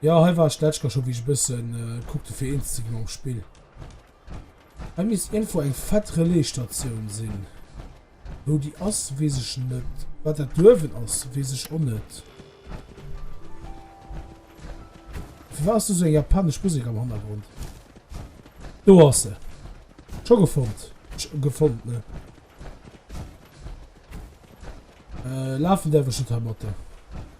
Jo hei war ech d'letzt Kéier scho wéi ech e bëssen kuckte fir eens ze gi mam Spill. Hei misst iergendwou eng fett Relaisstatioun sinn. Wou déi ass weess ech net. Wat dat do uewen ass weess ech och net. Firwat ass do esou eng japanesch Musek am Hannergrond? Do ass se. Scho gefonnt. Gefonnt ne. Äh, lafen däerf ech net heimatten.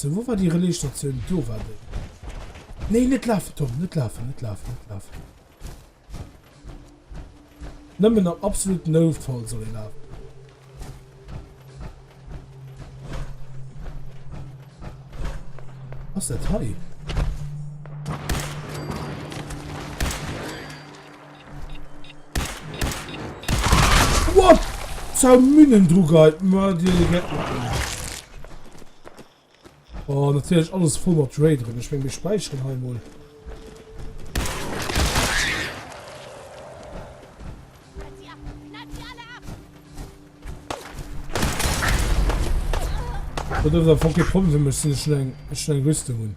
So, wou war déi Relaisstatioun? Do war déi. Nee, net lafen, Tom, net lafen, net lafen, net lafen. Nëmmen am absoluten Noutfall soll e lafen. Was ist das hier? What? Zou Münnen dru geit, ma dir le get mat dem. Oh, natürlich alles voll mat Dre drin. Ich mein, wir speichern halt mal. Dat ass a fucking Problem, ech sinn ech eng Rüstung hunn.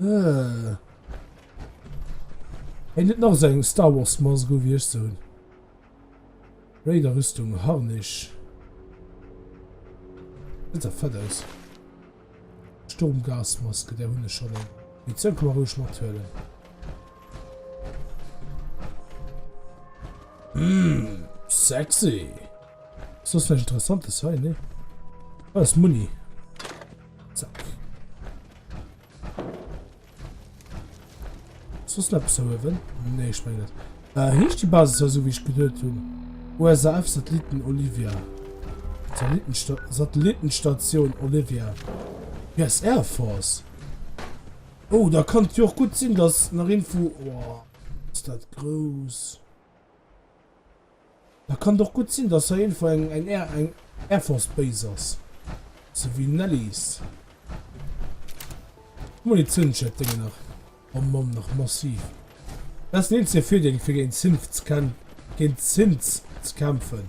Äh. Hei net nach seng Star Wars Mask go wie ech soen. Raider Rüstung Harnisch. Net der fett aus. Sturmgasmaske der hunne schon. Wie zou kann man ruhig mat huelen. Mmm, sexy. Ist das vielleicht interessant, das hier, ne? Ah, das Muni. So. Ist das noch so oben? Nee, ich meine nicht. Äh, hecht die Basis ja so, wie ich gedacht habe. USAF-Satelliten Olivia. Satellitensta Satellitenstation Olivia. Yes, Air Force. Oh, da kann es ja auch gut sein, dass nach Info... Oh, ist das groß. Da kann et och gutt sinn, dass hei eenfach eng Air Force Base ass, sou wéi Nelly's. D'Munitiounsschied dénge nach am Mann, nach massiv. Dat ass den eenzege Virdeel, fir géint d'Synths ze kämpfen.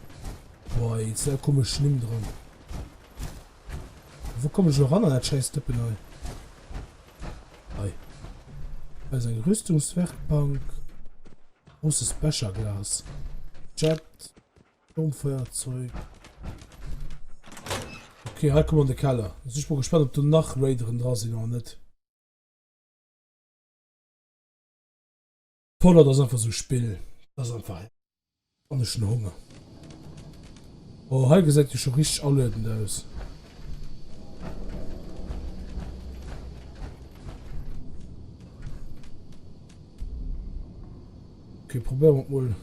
Boah, ey, et sinn all komesch Nimm dran. Wou kommen ech elo eran an dat schäiss Dëppen hei? Hei ass eng Rüstungswerkbank. Großes Becherglas. Jet. Sturmfeuerzeug. Okay, hei kommen an de Keller. Also ich bin gespannt, ob du nach Raideren dran sind oder net. Fallout ass einfach so e Spill. Das ass einfach. An ech hun Honger. Oh, hei gesäit jo scho richteg aluedend aus. Okay, probéieren wir mol.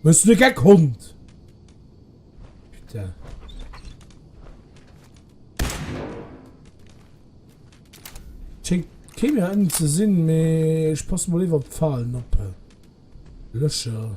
Bist du Gag, Hund? Bitte. Schenkt keiner einen zu sehen, mehr. Ich passe mal lieber Pfahlen ab. Löscher.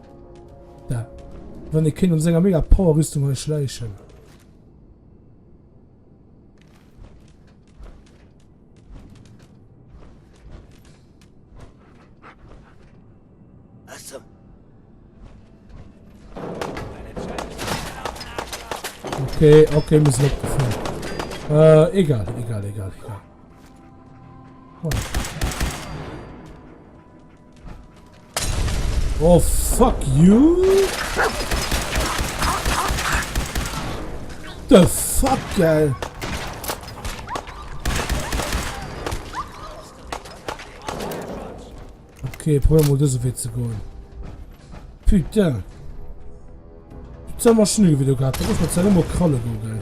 Da wann ee kéint mat senger mega Power-Rüstung hei schläichen. Okay, okay, muss ich abgefahren. Äh, egal, egal, egal, egal. Oh. Oh fuck you! The fuck geil! Okay, probieren wir diesen Weg zu gehen. Putain! Jetzt haben wir Schnee wieder gehabt. Da muss man jetzt immer Kralle gehen.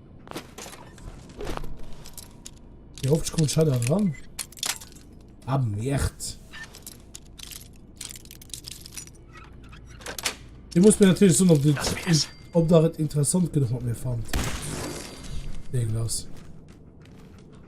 Hier hofft kommt Shadow dran. Ah, merde. Ich muss mir natürlich so noch die, ob da interessant genug mir fand. Irgendwas.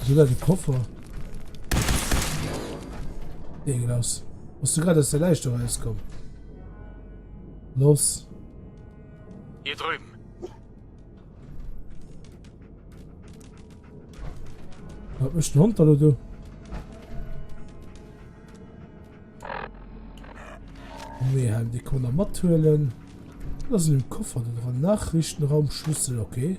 Wieso dat e Koffer? Nee, gin ass. Bass du grad aus der Läischt erauskomm? Los. Hier drüben. Wat mecht den Hond da do? Nee, han de Konner mathuelen. Da sinn im Koffer den dran. Nachrichtenraum Schlüssel, okay.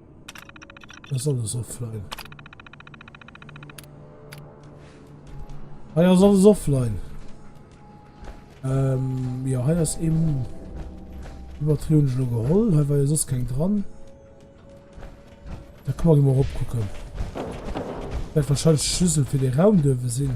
Das soll es offline. Ah ja, soll es offline. Ähm, ja, hier ist eben Übertrieben schon geholt, hier war ja sonst kein dran. Da kann man mal gucken. Wird wahrscheinlich Schlüssel für den Raum dürfen sehen.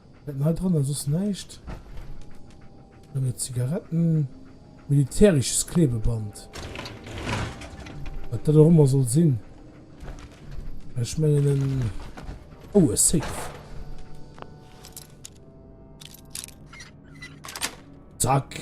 Mitten hei dran ass soss näischt. Nëmme Zigaretten. Militärisches Klebeband. Wat dat och ëmmer soll sinn. Ech mengen en. Oh, e Safe. Zack.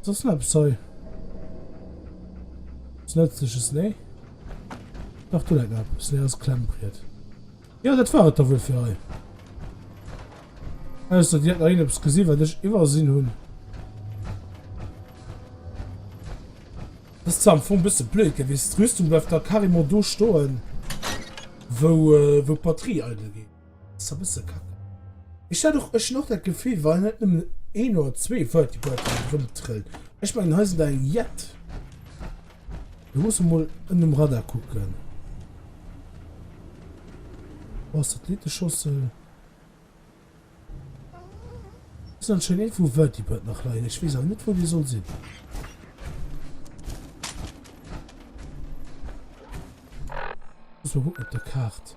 Was ist denn das Zeug? Das letzte ist nee. Ach du lecker, das ist das Klemmbrett. Ja, das war es da wohl für euch. Also, die hat noch irgendwas gesehen, was ich übersehen habe. Das ist zwar am Anfang ein bisschen blöd gewesen. Die Rüstung bleibt da carrément da stehen, wo, äh, wo die Batterie eingeht. Ass e bësse kacke. Ech hat och, ech hunn och dat Gefill, well net nëmmen een oder zwee Vertibirds hei erëmtrëllen. Ech mengen, hei sinn der eng jett. Mir musse mol ënnem Radar kucken. Oh, Satelliteschossel. Ass anscheinend iergendwou e Vertibird nach leien. Ech weess awer net, wou dee soll sinn. Muss mal kucken op der Kaart.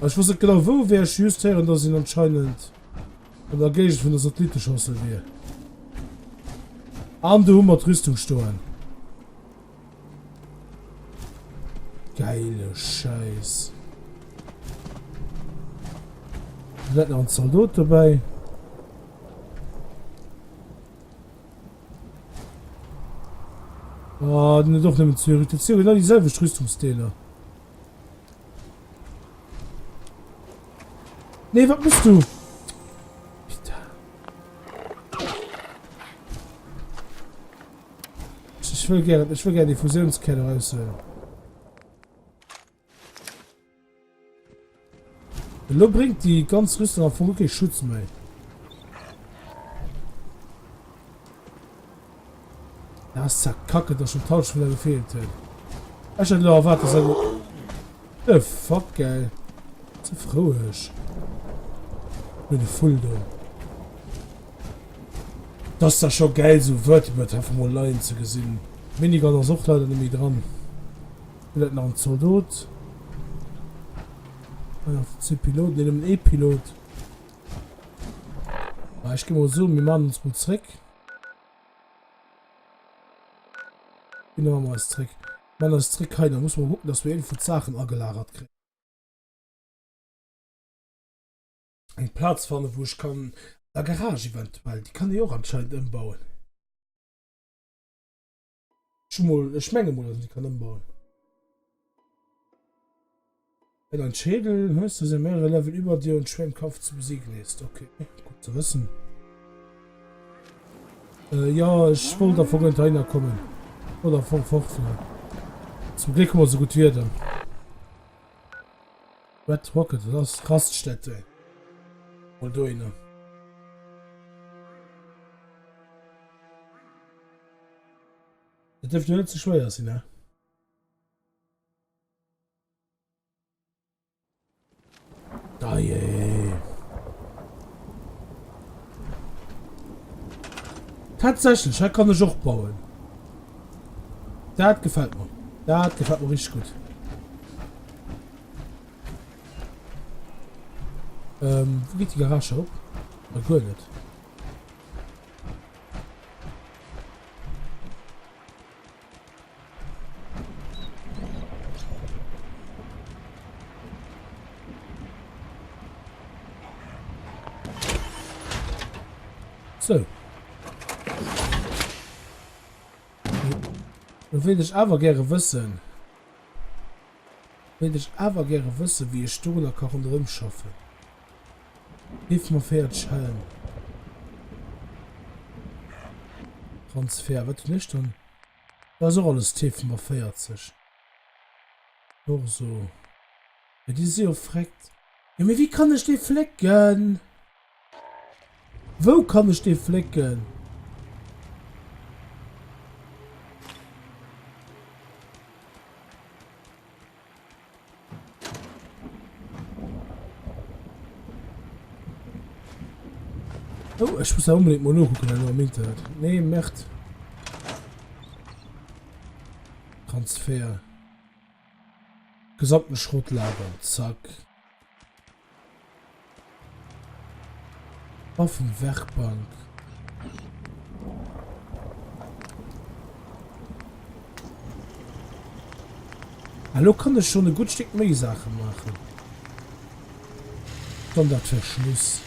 Ech wosst net genau wou e wier, ech hu just héieren, dass een anscheinend an der Géigend vun der Satellitteschossel wier. An do hu mer d'Rüstung stoen. Geile Scheiss. Net nach en Zaldot dobäi. Ah, den huet och nëmmen zwee Rüstung. Genau déi selwecht Rüstungsdeeler. Nee, wat muss du? Ich will gerne, ich will gerne die Fusionskette raus. Äh. Lo bringt die ganz Rüstung auf Rücke Schutz mehr. Ah ist ja kacke dass schon d'Halschwiller gefehlt huet. Ech hat lo erwaart dass en The fuck geil. Ze frou ech. Mir de Full do. Dass da scho geil so Vertibird einfach mal leien ze gesinn. Minigun ass och leider net méi dran. Villäit nach en Zaldot. Ah ja, zwee Piloten, nee nëmmen ee Pilot. Ah, ech gi mol soen, mir man ons mol zréck. Gin der mam eis zréck. Mat eis zréck hei, da musse mer kucken dass mer iergendwou d'Saachen agelagert kréien. Eng Plaz fannen wou ech kann, a Garage eventuell, déi kann ee jo och anscheinend ëmbauen. Ech mol, ech menge mol, dass en déi kann ëmbauen. Eng an Schädel, hues du se mehrere Level über dir und schwer im Kampf zu besiegen ist. Okay, gut zu wissen. Äh, ja, ech wollt da vorhin dahinter kommen. Oder von fortfahren. Zum Glück haben wir so gut Wieder. Red Rocket, das ist Raststätte. Mal da Dat dierft jo net ze schwéier sinn, ne? Dajee. Tatsächlech, hei kann ech och bauen. Dat gefält mer. Dat gefält mer richtig gutt. Ähm, wou geet déi Garage op? Ah, guer net. So. Dann will ich aber gerne wissen, Wéilt ech awer gäre wëssen wéi ech dorunner ka ronderëm schaffen. Géif mer 40 hellen. Transfer, wat hunn ech dann? Do ass och alles T fir mer 40. Torso, mee déi si jo freckt. Jo mee wéi kann ech déi flécken? Wou kann ech dee flécken? Oh, ech muss dat onbedéngt mol nokucken elo am Internet. Nee, Merd. Transfer. Gesamten Schrott lagern. Zack. Offen Werkbank. Elo kann ech schon e gudd Stéck méi Saachen maachen. Dann dat Verschluss.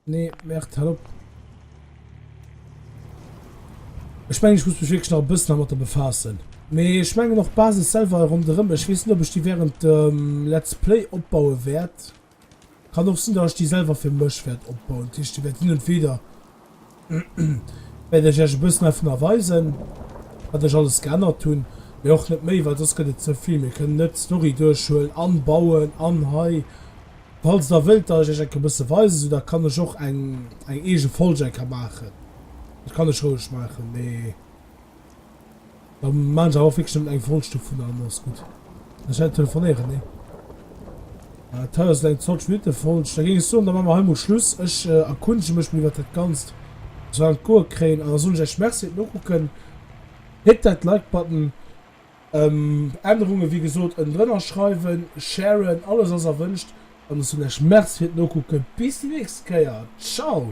Nee, Mert, hal op. Ech mengen, ech muss mech wierklech nach e bëssen hermatter befaassen. Mee ech mengen och d'Basis selwer hei ronderëm, ech weess net, ob ech déi während dem Let's Play opbaue wäert. Kann och sinn, datt ech déi selwer fir mech wäert opbauen. Dat heescht, déi wäert hin und wieder Wäert ech iech e bëssen ervunner weisen, wat ech alles geännert hunn, mee och net méi, well soss gëtt et ze vill. Mir kënnen net d'Story duerchhuelen an bauen an hei. Falls der wëllt, datt ech iech eng kéier e bësse weisen, esou da kann ech och eng eng eege Folg eng kéier maachen. Dat kann ech roueg maachen, mee. Da maachen se awer wierklech net eng Vollstuff vun allem, alles gutt. Ech hätt telefonéieren, nee. Et haiers et eng 20 Minutte Vollsch, da géing ech soen, da maache mer hei mol Schluss. Ech erkundege mech mol iwwert dat Ganzt, ob se dat an d'Goe kréien, an da soen ech iech Merci fir d'Nokucken. Hit that like button. Ännerunge wéi gesot ënnendrënner schreiwen, sharen, alles ass erwënscht. An ech soen iech Merci fir d'Nokucken. Bis déi nächst Kéier. Ciao!